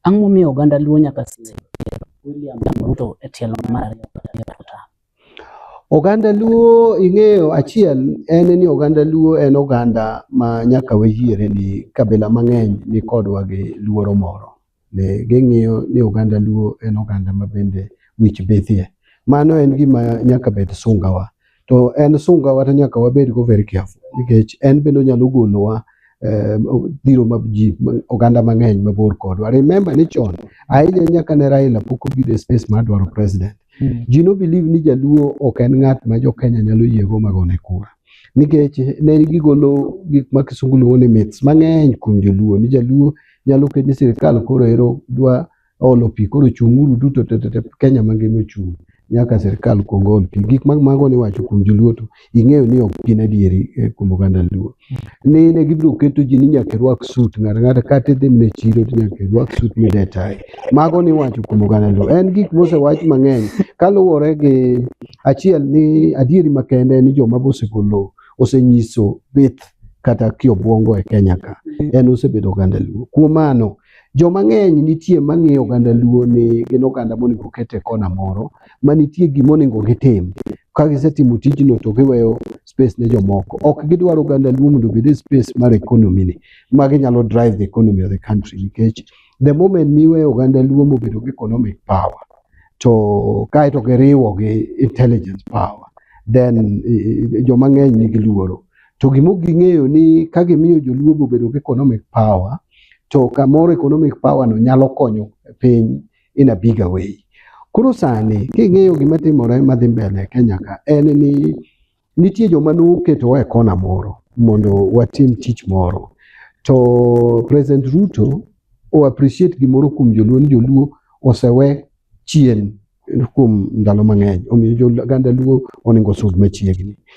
Ang' momiyo oganda Luo nyaka siem William Ruto e tielo mar ariyo kata e kota? Oganda Luo ing'eyo achiel en ni oganda Luo en oganda ma nyaka wayiere ni kabila mang'eny ni kodwa gi luoro moro. Ne ging'iyo ni oganda Luo en oganda ma bende wich bithie. Mano en gima nyaka bed sungawa. to en sunga wata nyaka wabed go very careful nikech en bende onyalo golowa eh, dhiro ma ji ma- oganda mang'eny mabor kodwa remember ni chon ahinya nyaka ne Raila pok obedo e space mar dwaro president Mm. ji no believe ni jaluo ok en ng'at ma jo Kenya nyalo yiego magone kura nikech ne gigolo gik ma kisungu luongo ni myths mang'eny kuom joluo ni jaluo nyalo ket ni sirikal koro ero dwa olo pi koro chung'uru duto te te Kenya mangima ochung' nyaka sirkal kuong ol pi gik mag mago ni wacho kuom joluo to ing'eyo ni ok gin adieri eh, kuom oganda luo ni ne gibiro keto ji ni nyaka irwak sut ng'ato ng'ato kata idhi mne chiro to nyaka irwak sut midetae mago ni wacho kuom oganda luo en gik mosewach mang'eny kaluwore gi achiel ni adieri makende ni joma bosegolo osenyiso bith kata kiobwongo e Kenya ka en osebedo oganda luo kuom mano Joma ng'eny nitie ma ng'iyo oganda Luo ni gin oganda monego oket e kona moro ma nitie gima onego gitim. Ka gisetimo tijno to giweyo space ne jomoko. Ok gidwar oganda Luo mondo obed e space mar economy ni ma ginyalo drive the economy of the country nikech the moment miweyo oganda Luo mobedo gi economic power to kae to giriwo gi intelligence power then eh, eh, joma ng'eny nigi luoro To gimok ging'eyo ni ka gimiyo joluo bobedo gi economic power, to kamoro economic power no nyalo konyo piny in a bigger way. Koro sani king'iyo gima timore madhi mbele Kenya ka en ni nitie joma noketowa e kona moro mondo watim tich moro. To President Ruto o appreciate gimoro kuom joluo ni joluo osewe chien kuom ndalo mang'eny. Omiyo jo Luo onego osud machiegni.